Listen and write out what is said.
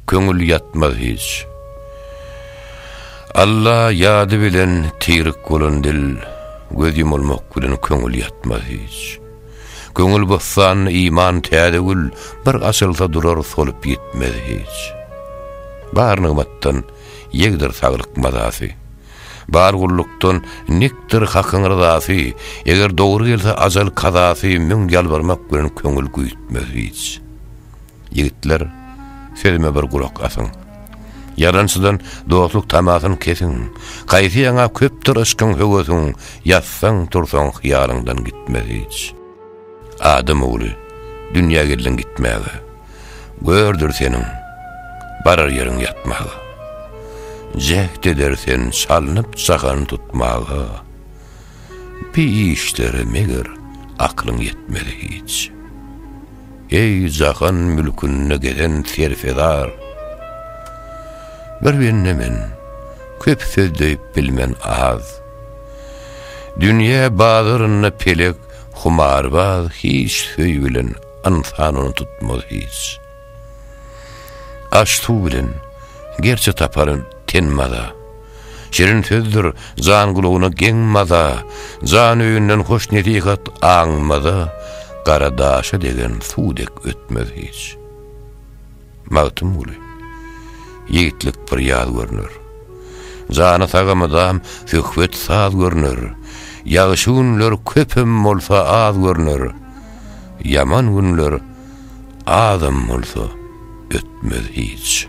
Köňül ýatmaz hiç. Alla ýady bilen tirik bolan dil, göz ýumulmak bilen köňül ýatmaz hiç. Köňül bossanynda iman täze gül, bir açylsa durar solup ýitmez hiç. Bar nygmatdan ýegdir saglyk mazasy, bar gullukdan nikdir Hakyň ryzasy, eger dogry gelse ajal kazasy müň ýalbarmak bilen köňül güýtmez hiç. Ýigitler, sözüme bir gulak asyň. Ýalançydan dostluk tamasyny kesiň. Gaýsy ýaňa köpdür yşkyň höwesiň, ýatsaň-tursaň hyýalyňdan gitmez hiç. Adam ogly, dünýä geldiň gitmäge. Gördür seniň barar ýeriň ýatmaga. Jäht eder sen çalnyp çakany tutmaga. Pi işlere meger aklyň ýetmez hiç. Eý, jahan mülkünde gezen serfezar! Bir bende men, köp söz döýüp bilmen az. Dünýe bazarynda pelek humarbaz hiç söýgülen ynsan ony tutmaz hiç. Aş-suw bilen, gerçe tapar ten maza, Şirin sözdür jan gulagyna geň maza, Jan öýünden hoş nesihat aňmaza, Gara daşa degen suw dek ötmez hiç. Magtymguly, Ýigitlik bir ýaz görner. Jana saga mydam söhbet saz görner, Ýagşy günler köpem bolsa az görner, Ýaman günler Azam bolsa ötmez hiç.